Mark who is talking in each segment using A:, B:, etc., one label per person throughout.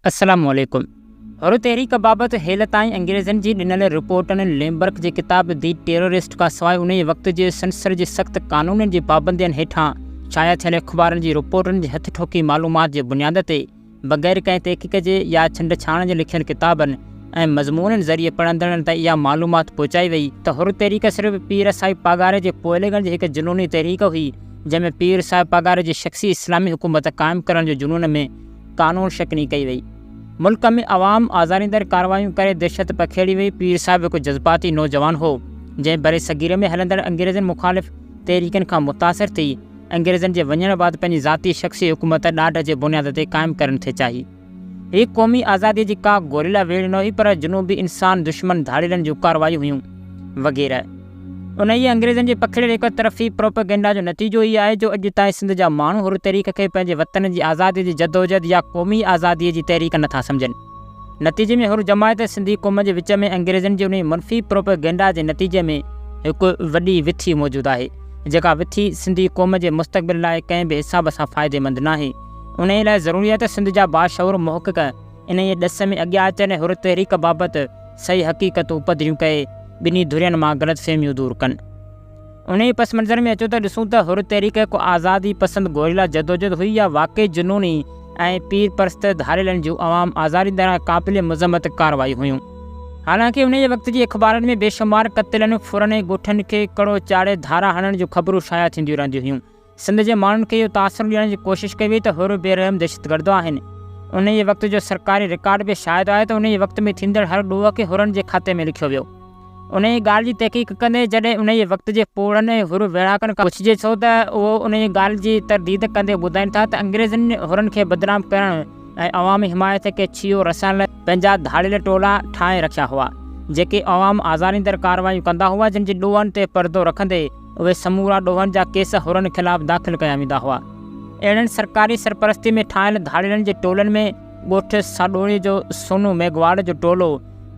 A: السلام عليڪم. حر تحريڪ بابت هيل تائين انگريزن جي ڏنل رپورٽن، ليمبرڪ جي ڪتاب دي ٽيرورسٽ کان سواء انهيء وقت جي سينسر جي سخت قانونن جي پابندين هيٺان شايع ٿيل اخبارن جي رپورٽن جي هٿ ٺوڪي معلومات جي بنياد تي بغير ڪنهن تحقيق جي يا ڇنڊ ڇاڻ جي لکيل ڪتابن ۽ مضمونن ذريعي پڙهندڙن تائين اها معلومات پهچائي وئي ته حر تحريڪ صرف پير صاحب پاڳاري جي پوئلڳڻ جي هڪ جنوني تحريڪ هئي جنهن ۾ پير صاحب پاڳاري جي شخصي اسلامي حڪومت قائم ڪرڻ جي جنون ۾ قانون شڪني ڪئي وئي. ملڪ ۾ عوام آزاريندڙ ڪارروايون ڪري دهشت پکيڙي وئي. پير صاحب هڪ جذباتي نوجوان هو، جنهن برصغير ۾ هلندڙ انگريزن مخالف تحريڪن کان متاثر ٿي، انگريزن جي وڃڻ بعد پنهنجي ذاتي شخصي حڪومت ڏاڍ جي بنياد تي قائم ڪرڻ ٿي چاهي. هي قومي آزاديء جي ڪا گوريلا ويڙهه نه هئي، پر جنوبي انسان دشمن ڌاڙيلن جون ڪارروايون هيون، وغيره. انهيء انگريزن جي پکڙيل هڪ طرفي پروپئگنڊا جو نتيجو هي آهي جو اڄ تائين سنڌ جا ماڻهو حر تحريڪ کي پنهنجي وطن جي آزاديء جي جدوجهد يا قومي آزاديء جي تحريڪ نٿا سمجهن. نتيجي ۾ حر جماعت ۽ سنڌي قوم جي وچ ۾ انگريزن جي انهيء منفي پروپئگنڊا جي نتيجي ۾ هڪ وڏي وٿي موجود آهي، جيڪا وٿي سنڌي قوم جي مستقبل لاء ڪنهن به حساب سان فائديمند ناهي. انهيء لاء ضروري آهي ته سنڌ جا باشعور محقق انهيء ڏس ۾ اڳيان اچڻ ۽ حر تحريڪ بابت صحيح حقيقتون پڌريون ڪري، ٻنهي ڌرين مان غلط فهميون دور ڪن. انهيء پس منظر ۾ اچو ته ڏسون ته حر تحريڪ هڪ آزادي پسند گوريلا جدوجهد هئي يا واقعي جنوني ۽ پير پرست ڌاڙيلن جون عوام آزارين طرح قابل مذمت ڪارروايون هيون. حالانڪه انهيء وقت جي اخبارن ۾ بيشمار قتلن، ڦرن ۽ ڳوٺن کي ڪڙو چاڙهي ڌارا هڻڻ جون خبرون شايع ٿينديون رهنديون هيون. سنڌ جي ماڻهن کي اهو تاثر ڏيڻ جي ڪوشش ڪئي وئي ته حر بي رحم دهشتگرد آهن. انهيء وقت جو سرڪاري رڪارڊ به شاهد آهي ته انهيء وقت ۾ ٿيندڙ هر ڏوهه کي حرن جي کاتي ۾ لکيو ويو. انهيء ڳالهه جي تحقيق ڪندي جڏهن انهيء وقت جي پوڙهن ۽ حر ويڙهاڪن کان پڇجي ٿو ته اهو انهيء ڳالهه جي ترديد ڪندي ٻڌائين ٿا ته انگريزن حرن کي بدنام ڪرڻ ۽ عوامي حمايت کي ڇيهو رسائڻ لاء پنهنجا ڌاڙيل ٽولا ٺاهي رکيا هئا جيڪي عوام آزاريندڙ ڪارروايون ڪندا هئا جن جي ڏوهن تي پردو رکندي اهي سمورا ڏوهن جا ڪيس حرن خلاف داخل ڪيا ويندا هئا. اهڙن سرڪاري سرپرستي ۾ ٺاهيل ڌاڙيلن جي ٽولن ۾ ڳوٺ ساڏوڻي جو سونو ميگهواڙ جو ٽولو،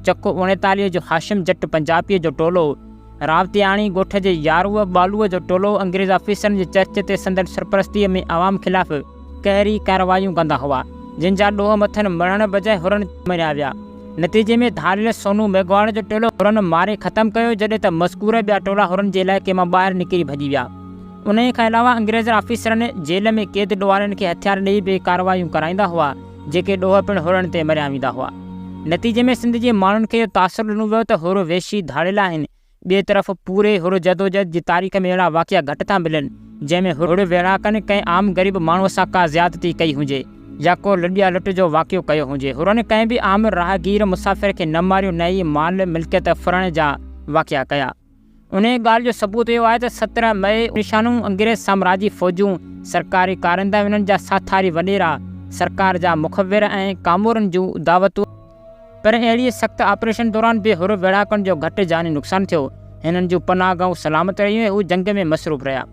A: چڪ اوڻيتاليهه جو هاشم جٽ پنجاپيء جو ٽولو، راوتياڻي ڳوٺ جي ياروء ٻالوء جو ٽولو انگريز آفيسرن جي چرچ تي سندن سرپرستيء ۾ عوام خلاف قهري ڪارروايون ڪندا هئا، جن جا ڏوهه مٿن مڙهڻ بجاء هرن مريا ويا. نتيجي ۾ ڌاڙيل سونو ميگهواڙ جو ٽولو هرن ماري ختم ڪيو، جڏهن ته مذڪوره ٻيا ٽولا هرن جي علائقي مان ٻاهر نڪري ڀڄي ويا. انهيء کان علاوه انگريز آفيسرن جيل ۾ قيد ڏوهارين کي هٿيار ڏيئي به ڪارروايون ڪرائيندا هئا، جيڪي ڏوهه پڻ هرن تي مريا ويندا هئا. نتيجي ۾ سنڌ جي ماڻهن کي اهو تاثر ڏنو ويو ته هر وحشي ڌاڙيل آهن، ٻئي طرف پوري هڙ جدوجهد جي تاريخ ۾ اهڙا واقعا گهٽ ٿا ملن، جنهن ۾ هڙ ويڙهاڪن ڪنهن عام غريب ماڻهوء سان ڪا زيادتي ڪئي هجي يا ڪو لڏيا لٽ جو واقعو ڪيو هجي. هرن ڪنهن به عام راهگير مسافر کي نه ماريو نه ئي مال ملڪيت ڦرڻ جا واقعا ڪيا. انهيء ڳالهه جو ثبوت اهو آهي ته سترهن مئي نشانو انگريز سامراجي فوجون، سرڪاري ڪارندهه انهن جا ساٿاري وڏيرا، سرڪار جا مخبر ۽ ڪامورن جون دعوتون، پر اهڙيء سخت آپريشن دوران به حر ويڙهاڪن جو گهٽ جاني نقصان ٿيو. هنن جون پناهه گاهون سلامت رهيون ۽ هو جنگ ۾ مصروف رهيا.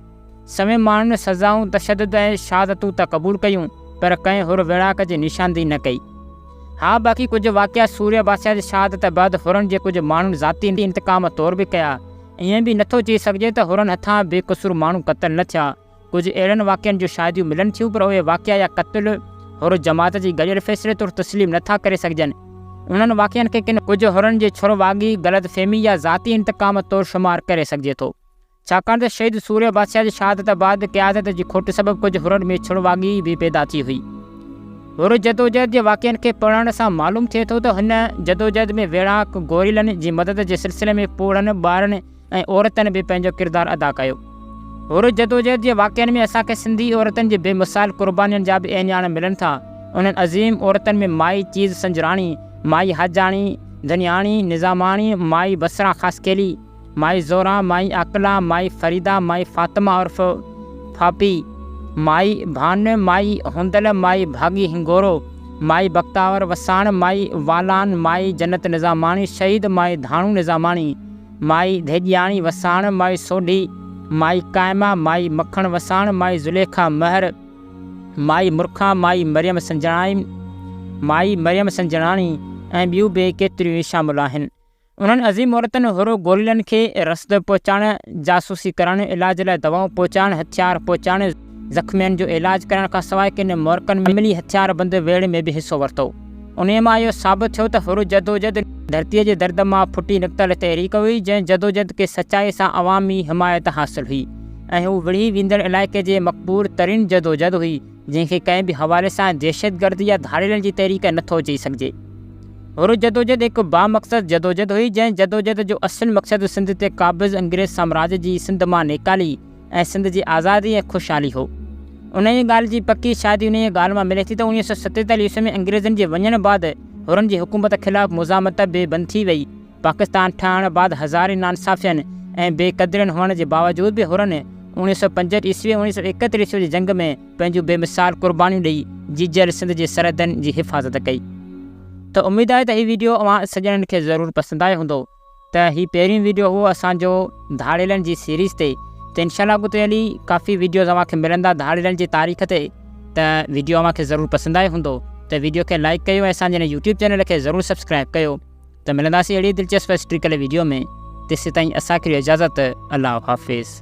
A: سوين ماڻهن سزائون، تشدد ۽ شهادتون ته قبول ڪيون، پر ڪنهن حر ويڙهاڪ جي نشاندهي نه ڪئي. ها باقي ڪجهه واقعا سوريا باسيا جي شهادت بعد حرن جي ڪجهه ماڻهن ذاتي انتقام طور به ڪيا. ائين به نٿو چئي سگهجي ته حرن هٿان بي قصور ماڻهو قتل نه ٿيا. ڪجهه اهڙن واقعن جون شاهديون ملن ٿيون پر اهي واقعا يا قتل حر جماعت جي گڏيل فيصلي طور تسليم نه ٿا ڪري سگهجن. انهن واقعن کي ڪن ڪجهه حرن جي ڇر واڳي، غلط فهمي يا ذاتي انتقام طور شمار ڪري سگهجي ٿو. ڇاڪاڻ ته شهيد سوريه بادشاهه جي شهادت بعد قيادت جي کوٽ سبب ڪجهه حرن ۾ ڇر واڳي به پيدا ٿي هئي. حر جدوجهد جي واقعن کي پڙهڻ سان معلوم ٿئي ٿو ته هن جدوجهد ۾ ويڙهاڪ گوريلن جي مدد جي سلسلي ۾ پوڙهن ٻارن، ۽ عورتن به پنهنجو ڪردار ادا ڪيو. حر جدوجهد جي واقعن ۾ اسان کي سنڌي عورتن جي بي مثال قربانين جا به اهڃاڻ ملن ٿا. انهن عظيم عورتن ۾ مائي چيز سنجراڻي، مائي حاجاڻي، ڌنياڻي، نظاماڻي، مائي بصره خاصخيلي، مائي زهره، مائي عاقله، مائي فريده، مائي فاطمه عرف ڦاپي، مائي ڀان، مائي هوندل، مائي ڀاڳي هنگورو، مائي بختاور وساڻ، مائي والان، مائي جنت نظاماڻي، شهيد مائي ڌاڻو نظاماڻي، مائي ڌيڄياڻي وساڻ، مائي سوڍي، مائي قائمه، مائي مکڻ وساڻ، مائي زليخا مهر، مائي مرکان، مائي مريم سنجڻائي، مائي مريم سنجڻاڻي ۽ ٻيون به ڪيتريون ئي شامل آهن. انهن عظيم عورتن هورو گوريلن کي رسد پهچائڻ، جاسوسي ڪرڻ، علاج لاء دوائون پهچائڻ، هٿيار پهچائڻ، زخمين جو علاج ڪرڻ کان سواء ڪن مورڪن ۾ عملي هٿيار بند ويڙهه ۾ به حصو ورتو. انهيء مان اهو ثابت ٿيو ته حر جدوجهد ڌرتيء جي درد مان ڦٽي نڪتل تحريڪ هئي، جنهن جدوجهد کي سچائي سان عوامي حمايت حاصل هئي ۽ هو وڙهي ويندڙ علائقي جي مقبول ترين جدوجهد هئي، جنهن کي ڪنهن به حوالي سان دهشتگرد يا ڌاڙيلن جي تحريڪ نه ٿو چئي سگهجي. حر جدوجهد هڪ بامقصد جدوجهد هئي، جنهن جدوجهد جو اصل مقصد سنڌ تي قابض انگريز سامراج جي سنڌ مان نيڪالي، ۽ سنڌ جي آزادي ۽ خوشحالي هو. انهيء ڳالهه جي پڪي شاهدي انهيء ڳالهه مان ملي ٿي ته اوڻيهه سؤ ستيتاليهه عيسوي ۾ انگريزن جي وڃڻ بعد حرن جي حڪومت خلاف مزاحمت بي بند ٿي ويئي. پاڪستان ٺهڻ بعد هزارين ناانصافين ۽ بي قدرين هئڻ جي باوجود به حرن اوڻيهه سؤ پنجهٺ عيسوي ۽ اوڻيهه سؤ ايڪهتر عيسوي جي جنگ ۾ پنهنجون بي مثال قربانيون ڏئي جيجل سنڌ جي سرحدن جي حفاظت ڪئي. ته اميد آهي ته هي ويڊيو اوهان سڄڻن کي ضرور پسند آيو هوندو. ته هي پهريون ويڊيو هو اسان جو ڌاڙيلن جي سيريز تي ته انشاء الله اڳتي هلي ڪافي ويڊيوز اوهان کي ملندا ڌاڙيلن جي تاريخ تي ته ويڊيو اوهان کي ضرور پسند آيو هوندو ته ويڊيو کي لائيڪ ڪيو ۽ اسان جي هن يوٽيوب چينل کي ضرور سبسڪرائيب ڪيو ته ملنداسين اهڙي دلچسپ هسٽريڪل ويڊيو ۾ تيسيتائين اسان کي ڏيو اجازت الله حافظ.